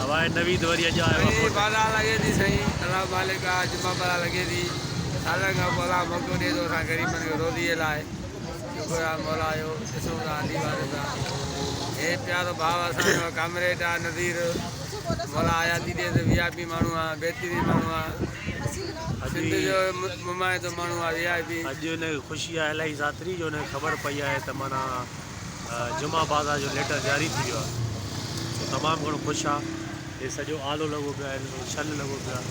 هواء نويد وري اڄ آيو آ موٽي. ڀلي بلا لڳي ٿي سائين الله مالڪ آ جما بلا لڳي ٿي سالن کان پوء الله موقعو ڏي ٿو اسان غريبن کي روزي لاء شڪر آ مولا جو ڏسون ٿا علي وارث آ هي پيارو ڀاء اسان جو ڪامريڊ آ نذير مولا حياتي ڏي ته وي آء پي ماڻهو آ بهترين ماڻهو آ سنڌ جو ممائتو ماڻهو آ وي آء پي اڄ ان کي خوشي آ الائي ساتري جو ان کي خبر پئي آهي ته معنيٰ جمعه بازار جو ليٽر جاري ٿي ويو آهي تمام گهڻو خوش آ هي سڄو آلو لڳو پيو آهي سڄو ڇل لڳو پيو آهي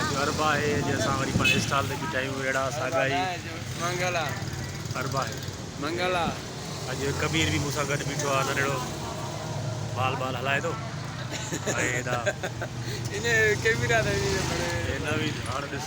اڄ اربع آهي اڄ اسان وري پنهنجي اسٽال تي بيٺا آهيون اهڙا ساڳا ئي منگل آ اربع آهي منگل آ اڄ ڪبير به مون سان گڏ بيٺو آهي ننڍڙو بال بال هلائي ٿو ۽ هيڏا ان ڪبير آ نويد هاڻ ڏس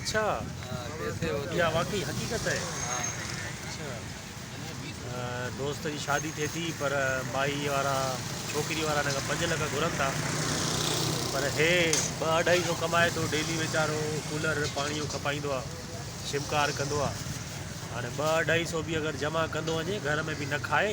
اڇا اها واقعي حقيقت آهي اڇا دوست جي شادي ٿئي ٿي پر مائي وارا ڇوڪري وارا هن کان پنج لک گهرن ٿا پر هي ٻه اڍائي سو ڪمائي ٿو ڊيلي ويچارو ڪولر پاڻي جو کپائيندو آهي شمڪار ڪندو آهي هاڻي ٻه اڍائي سو به اگر جمع ڪندو وڃي گهر ۾ به نه کائي